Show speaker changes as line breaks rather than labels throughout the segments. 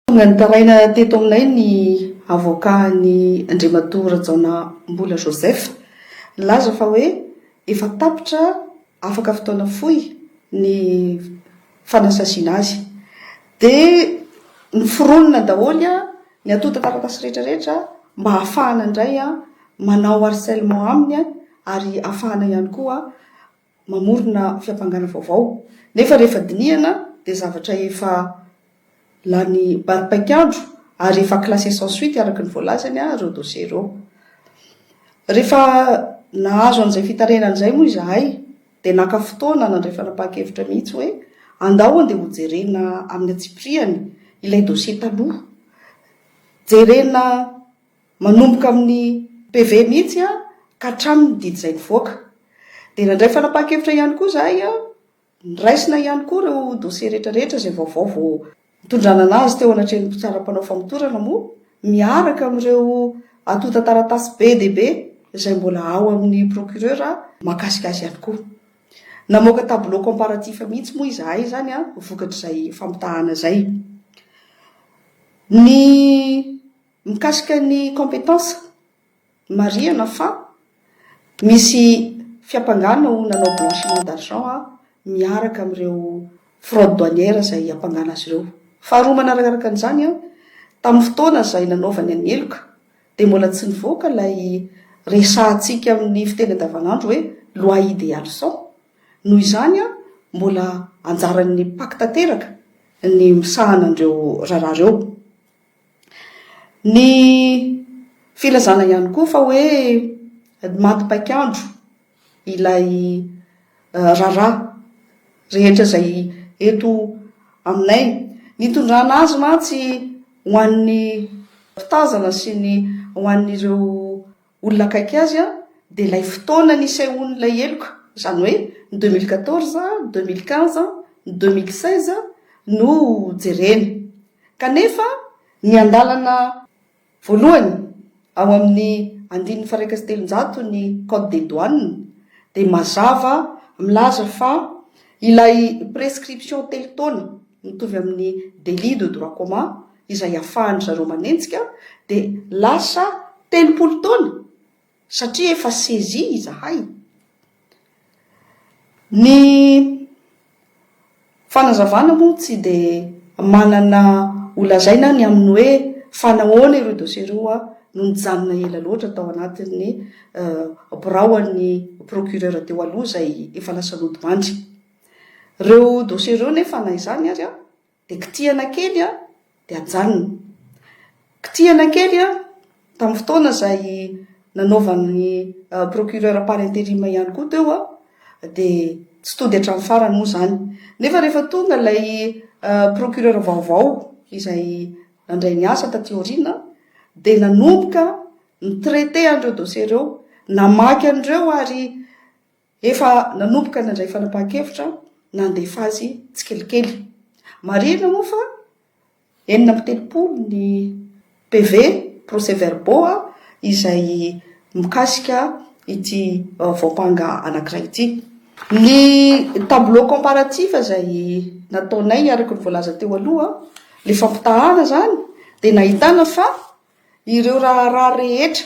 Tonga nitaraina teto aminay ny avoka an'i Andriamatoa Rajaonambola Joseph. Nilaza fa hoe efa tapitra afaka fotoana fohy ny fanasasiana azy. Dia noforonina daholo ny antontan-taratasy rehetra rehetra mba hahafahana indray manao harcèlement aminy ary hahafahana ihany koa mamorona fiampangana vaovao, nefa rehefa dinihana dia zavatra efa lany baripaik'andro ary efa classé sans suite araka ny voalazany ireo dossiers ireo. Rehefa nahazo an'izay fitarainana izay moa izahay dia naka fotoana nandray fanapahan-kevitra mihitsy hoe andao andeha hojerena amin'ny antsipiriany ilay dossier taloha, jerena, Manomboka amin'ny PV mihitsy ka hatramin'ny didy izay nivoaka. Dia nandray fanapahan-kevitra ihany koa izahay, noraisina ihany koa ireo dossiers rehetrarehetra izay vaovao vao nitondranana azy teo anatrehan'ny mpitsara mpanao famotorana moa miaraka amin'ireo antontan-taratasy be dia be izay mbola ao amin'ny procureur mahakasika azy ihany koa. Namoaka tableau comparatif mihitsy moa izahay izany vokatr'izay fampitahana izay. Ny. Mikasika ny compétence, marihana fa misy fiampangana ho nanao blanchiment d'argent miaraka amin'ireo fraude douanière izay hiampangana azy ireo. Faharoa manarakaraka an'izany, tamin'ny fotoana izay nanaovany an'i heloka dia mbola tsy nivoaka ilay resahantsika amin'ny fiteny andavanandro hoe loi idéale cent, noho izany mbola anjaran'ny pac tanteraka ny misahana an'ireo raharaha ireo. Ny filazana ihany koa fa hoe maty paik'andro ilay raharaha rehetra izay eto aminay. Ny itondrana azy mantsy ho an'ny mpitazana sy ny ho an'ireo. olona akaiky azy aho dia ilay fotoana nisehoan'ilay heloka, izany hoe ny deux mille quatorze, deux mille quinze, ny deux mille seize no jerena. Kanefa ny andalana voalohany ao amin'ny andininy faharaika sy telonjato ny code des douanes dia mazava milaza fa ilay prescription telo taona, mitovy amin'ny délit de droit commun izay iafahan-dry zareo manenjika, dia lasa telopolo taona satria efa saisi izahay. Ny fanazavana moa tsy dia manana ho lazaina ny amin'ny hoe fa nahoana ireo dossier ireo no nijanona ela loatra tao anatin'ny biraoan'ny procureur teo aloha izay efa lasa lodimandry. Ireo dosie ireo nefa na izany ary dia kitihana kely dia ajanona. Kitihana kely tamin'ny fotoana izay nanaovan'ny procureur par interim ihany koa teo dia tsy tody hatramin'ny farany moa izany. Nefa rehefa tonga ilay procureur vaovao izay nandray ny asa taty aoriana dia nanomboka ni-traiter an'ireo dosie ireo, namaky an'ireo ary Efa nanomboka nandray fanapahan-kevitra nandefa azy tsikelikely. Marihina moa fa enina amby telopolo ny PV, procès-verbaux, izay mikasika ity vaompanga anankiray ity. Ny tableau comparatif izay nataonay araka ny voalaza teo aloha, ilay fampitahana izany, dia nahitana fa ireo raharaha rehetra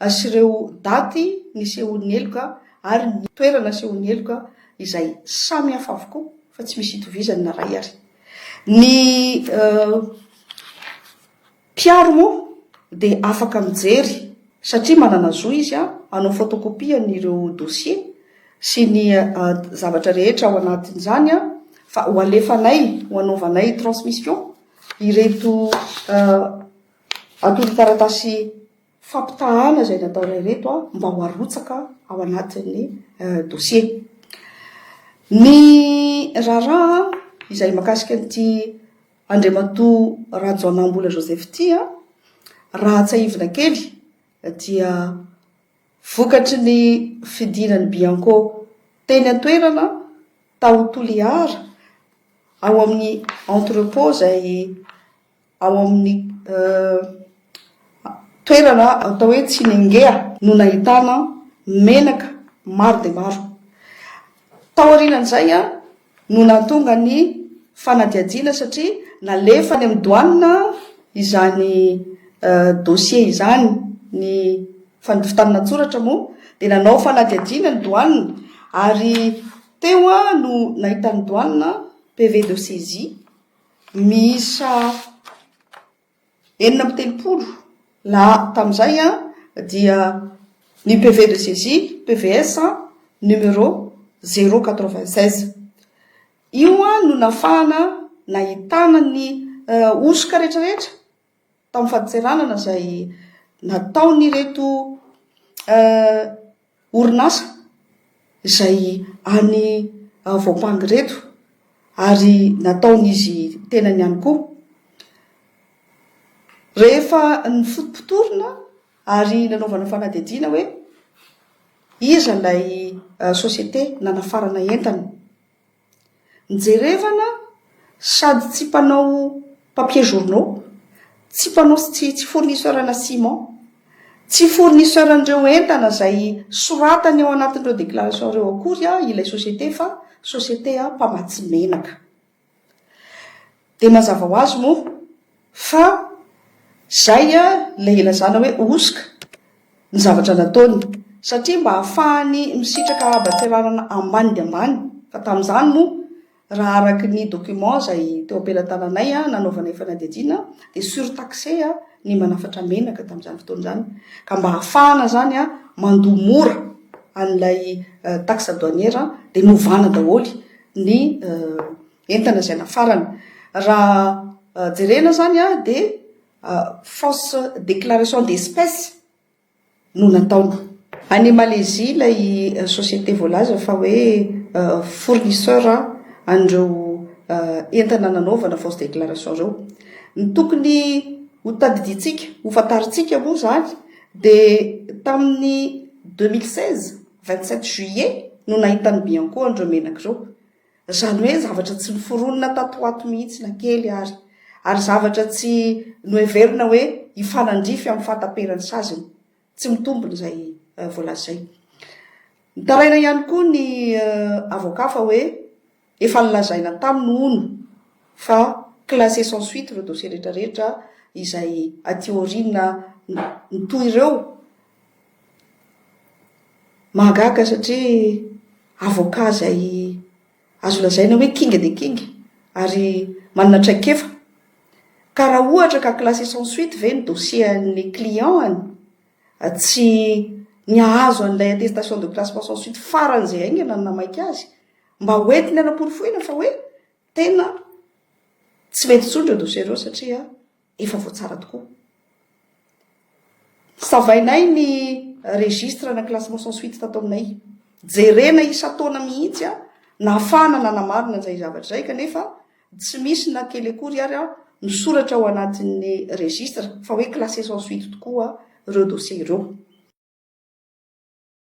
Asehireo daty nisehoan'ny heloka ary ny toerana nasehoan'ny heloka izay samy hafa avokoa fa tsy misy itovizany na iray ary. Ny mpiaro moa dia afaka mijery satria manana zo izy hanao photocopie an'ireo dossiers sy ny zavatra rehetra ao anatin'izany fa ho alefanay ho anaovanay transmission ireto antontan-taratasy fampitahàna izay nataonay ireto mba ho arotsaka ao anatin'ny dosie. Ny raharaha izay makasika an'ity Andriamatoa Rajaonahimbola Joseph ity, raha tsahivina kely dia vokatry ny fidinan'ny Bianco teny an-toerana tao Toliara ao amin'ny entrepôt izay Ao amin'ny toerana atao hoe Tsinengea no nahitana menaka maro dia maro. Tao aorianan'izay no nahatonga ny fanadihadiana satria nalefa any amin'ny douane izany dossier izany. Ny fandofitana an-tsoratra moa dia nanao fanadihadiana ny douane ary teo no nahitan'ny douane PV de saisie. miisa enina amby telopolo lahy tamin'izay dia ny PV de saisie, PVS, numéro zéro quatre-vingt seize. Io no nahafahana nahitana ny hosoka rehetrarehetra. tamin'ny fadintseranana izay nataon'ireto orinasa izay any Voampanga ireto ary nataon'izy tenany ihany koa. Rehefa nifotopotorina ary nanaovana fanadihadiana hoe iza ilay société nanafarana entana. Njerevana sady tsy mpanao papier journaux, tsy mpanao tsy tsy fournisseur ana ciment, tsy fournisseur an'ireo entana izay soratany ao anatin'ireo déclaration ireo akory ilay société fa société mpamatsy menaka. Dia mazava ho azy moa fa izay ilay ilazana hoe hosoka ny zavatra nataony, satria mba hahafahany misitraka haban-tseranana ambany dia ambany, fa tamin'izany moa raha araka ny document izay teo am-pelatananay nanaovanay fanadihadiana dia surtaxé ny manafatra menaka tamin'izany fotoana izany, ka mba hahafahana izany mandoa mora an'ilay taxe douanière dia novana daholo ny entana izay nafarana. Raha jerena izany dia fausse déclaration d'espèce no nataony. Any Malaisie ilay société voalaza fa hoe fournisseur an'ireo entana nanaovana fausse déclaration ireo. Ny tokony ho tadidintsika, ho fantarintsika moa izany dia tamin'ny deux mille seize, vingt sept juillet no nahitan'ny Bianco an'ireo menaka ireo. Izany hoe zavatra tsy noforonina tato ho ato mihitsy na kely ary, ary zavatra tsy noheverina hoe hifanandrify amin'ny fahataperan'ny saziny. Tsy mitombina izay voalaza izay. Nitaraina ihany koa ny avoka fa hoe efa nolazaina taminy hono fa classer sans suite ireo dossier rehetrarehetra izay aty aoriana mitohy ireo Mahagaga satria avocat izay azo lazaina hoe kinga dia kinga ary manana traikefa. Ka raha ohatra ka classé sans suite ve ny dossier an'ilay client-ny tsy ny hahazo an'ilay attestation de classement sans suite faran'izay haingana no namaika azy? Mba ho entiny hanaporofoina fa hoe tena tsy mety intsony ireo dossier ireo satria. Efa voatsara tokoa. Savainay ny registre na classement sans suite tato aminay. Jerena isan-taona mihitsy nahafahana nanamarina an'izay zavatra izay kanefa tsy misy na kely akory ary misoratra ao anatin'ny registre fa hoe classé sans suite tokoa ireo dossiers ireo.